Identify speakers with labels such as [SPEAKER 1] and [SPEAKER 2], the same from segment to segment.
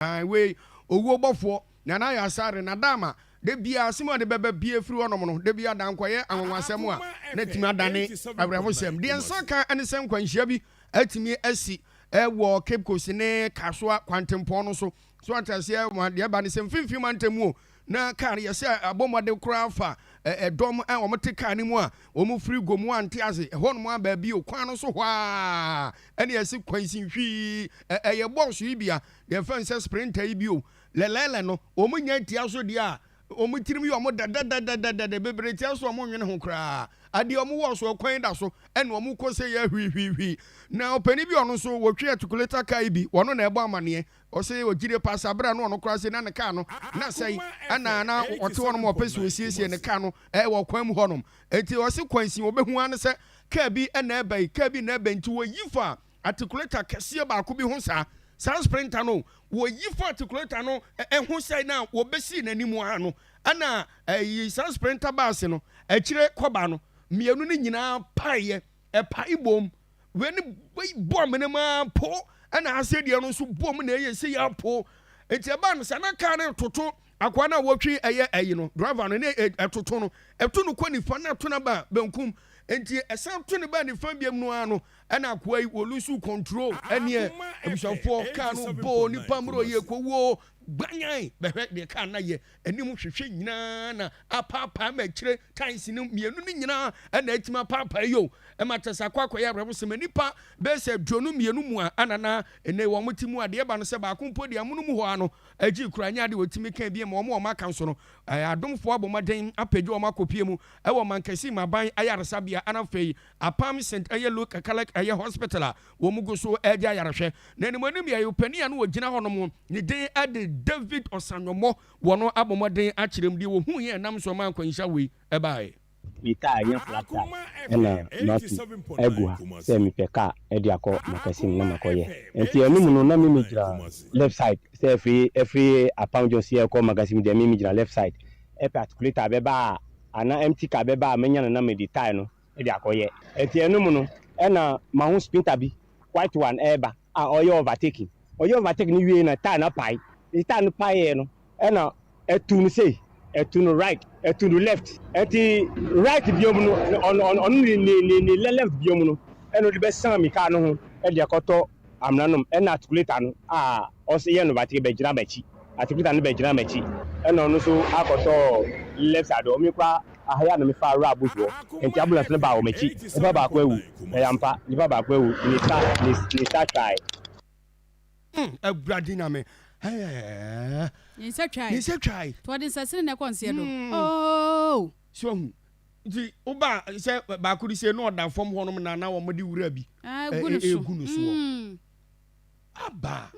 [SPEAKER 1] Ae wei owuo bɔfoɔ Nana Yasare na Dama da biaa asem a ɔde bɛba bia firi hɔ nom no da biaa da nkɔyɛ anwanwasɛm a na atumi adane awerɛhosɛm. Deɛ nsa ka ne sɛ nkwanhyia bi atumi asi wɔ Cape Coast ne Kasoa kwantempɔn no so. So ate aseɛ? Deɛ ɛba ne sɛ mfimfini mantam mu o, Na kar no yɛ sɛ abɔ mmɔden koraa fa dɔm a wɔte kar no mu a wɔfiri Gomu a nte ase hɔ nom aba bio kwan no so hɔ ara na ɛsi kwansin hwii. Ɛyɛ bɔs yi bi a yɛfrɛ no sɛ Sprinter yi bio. Lɛlɛɛlɛ no, wɔnya tia so deɛ a, wɔn tirim yɛ wɔn dɛ dɛdɛdɛdɛdɛdɛ, bebree te ase wɔn nnwene ho koraa. Adeɛ a wɔwɔ so kwan da so na wɔkɔ sɛ yɛ hwiihwiihwii. Na ɔpanin bi a ɔno nso wɔtwe atikuleta kaa yi bi, ɔno na ɛbɔ amaneɛ Ɔse ɔgyidie paa saa berɛ a na ɔno koraa se na ne car no na asɛe ɛna na ɔte hɔnom ɔpɛ se ɔsiesie ne car no wɔ kwan mu hɔnom nti ɔse kwansin ɔbɛhu ara ne sɛ car bi na ɛbae car bi na ɛbae nti ɔyi faa articulator kɛseɛ baako bi ho saa saa sprinter no ɔyi faa articulator no ho sɛe na ɔbɛsii n'anim ara no ɛna saa sprinter bus no akyire kɔba no mmienu no nyinaa paeɛ Ɛpae bom. Wei ne wei bɔ amena mu ara po, ɛna ha se deɛ no nso bɔ mu na ɛyɛ sei ara po. Nti ɛbaa no saa na kaa no retoto akoa no a wɔtwe ɛyɛ ɛyi no, driver no, ne ɛtoto no. Ɛto no kɔ nifa na ɛto no aba benkum. Nti ɛsan to no baa nifa biam no ara no, ɛna akoa yi wɔ lose control. Ɛneɛ, abusuafoɔ, kaa no bɔɔ nipa mmerɛ ɔyɛ kɔwuo gbanyan. Bɛhwɛ deɛ kaa no ayɛ. anim hwehwɛ nyinaa na apaapae ma akyire times no mmienu no nyinaa ɛna atumi apaapae yio ɛma kyɛ sɛ akɔ akɔyɛ abrɛbosɛm nnipa bɛyɛ sɛ aduonu mmienu mu a ɛna na ɛnɛ wɔn te mu adeɛ ɛba no sɛ baako mpo deɛ amono mu hɔ ara no agye kura nyɛ adeɛ wɔtumi kan bie ma wɔn wɔn aka nso no ɛɛ adomfoɔ abɔ mmɔden apagya wɔn akɔpie mu ɛwɔ Mankasi Mmaban ayaresabea ɛna afei Apam St ɛyɛ Luke Catholic ɛyɛ hospital a Wɔgu so redi ayarehwɛ, na animuanim yɛ ɔpanin a na ɔgyina hɔnom, ne din de David Osanyomo. Wɔabɔ mmɔden akyerɛ mu deɛ wɔhuiɛ a ɛnam so maa nkwanhyia wei baeɛ. Me car nya
[SPEAKER 2] flat tire ɛna matu agu ha sɛ mepɛ car ɛde akɔ Makassine na makɔ yɛ nti ɛno mu no na me me gyina left side sɛ ɛfiri ɛfiri Apam Junction yɛ kɔ Makassine deɛ me me gyina left side ɛpɛ articulator bɛba a anaa empty car bɛba a mɛnya no na mede tire no de akɔyɛ. Enti ɛno mu no na mahu sprinter bi white one ɛreba a ɔreyɛ overtaking. Ɔyɛɛ overtake no wiei na tyre no apae. Nti tyre no paeɛ no na atu no sei, atu no right, atu no left. Nti right biom no ɔno ne left biom no na ɔde bɛsan me car no ho de akɔtɔ amena nom ɛna atikuleta no a ɔse yɛ no batere bɛgyina makyi atikuleta no bɛgyina makyi. Ɛna ɔno nso akɔ tɔɔ left side hɔ ɔmekɔ aha yi a na me fa wura bush hɔ ɛnti ambulance no baa wɔ makyi nipa baako awu ɛyɛ ampa nipa baako awu ne sa ne sa twae. Umm awurade
[SPEAKER 1] nyame eeh
[SPEAKER 3] ne nsa twae ne nsa twae nti wɔde
[SPEAKER 1] nsasini na ɛkɔ
[SPEAKER 3] nseɛ do ooh. So wahu.
[SPEAKER 1] Nti woba sɛ baako de sie na ɔda fam hɔnom na na wɔde wura bi ɛgu no soɔ aba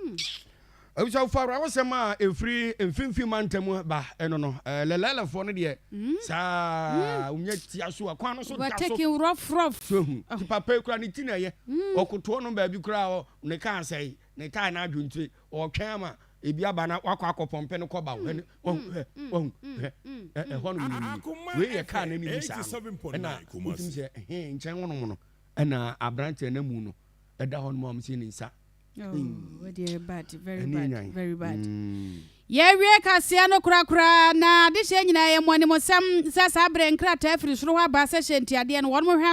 [SPEAKER 1] abusuafoɔ awerɛhosɛm a ɛfiri mfimfini mantam ba ɛno no lɛlɛlɛfoɔ no deɛ saa wonya tia so a kwan no so da so so
[SPEAKER 3] hu ti papa
[SPEAKER 1] kura ne ti na ɛyɛ ɔkotoɔ no baabi kura ne kaa sɛe Ne taa n'adwentire, ɔretwɛn ama ebi aba na wakɔ akɔpɔmpe no kɔba. Hwɛ no, wahu, hwɛ, wahu, hwɛ, ɛ, ɛhɔ nom no nie. Wei yɛ kaa n'anim yi saa no. Ɛna wotumi sɛ, he, nkyɛn hɔ nom no, ɛna aberanteɛ no amu no da hɔ nom a wɔsii ne nsa. Oh, wei deɛ
[SPEAKER 3] yɛ bad, very Ɛne bad, nyan. very bad. Mm. Yɛawie kaseɛ no korakoraa, na adehyeɛ nyinaa yɛ mo animsɛm sɛ saa berɛ nkrataa firi soro hɔ aba sɛ hyɛ ntiadeɛ no, wɔnom hwɛ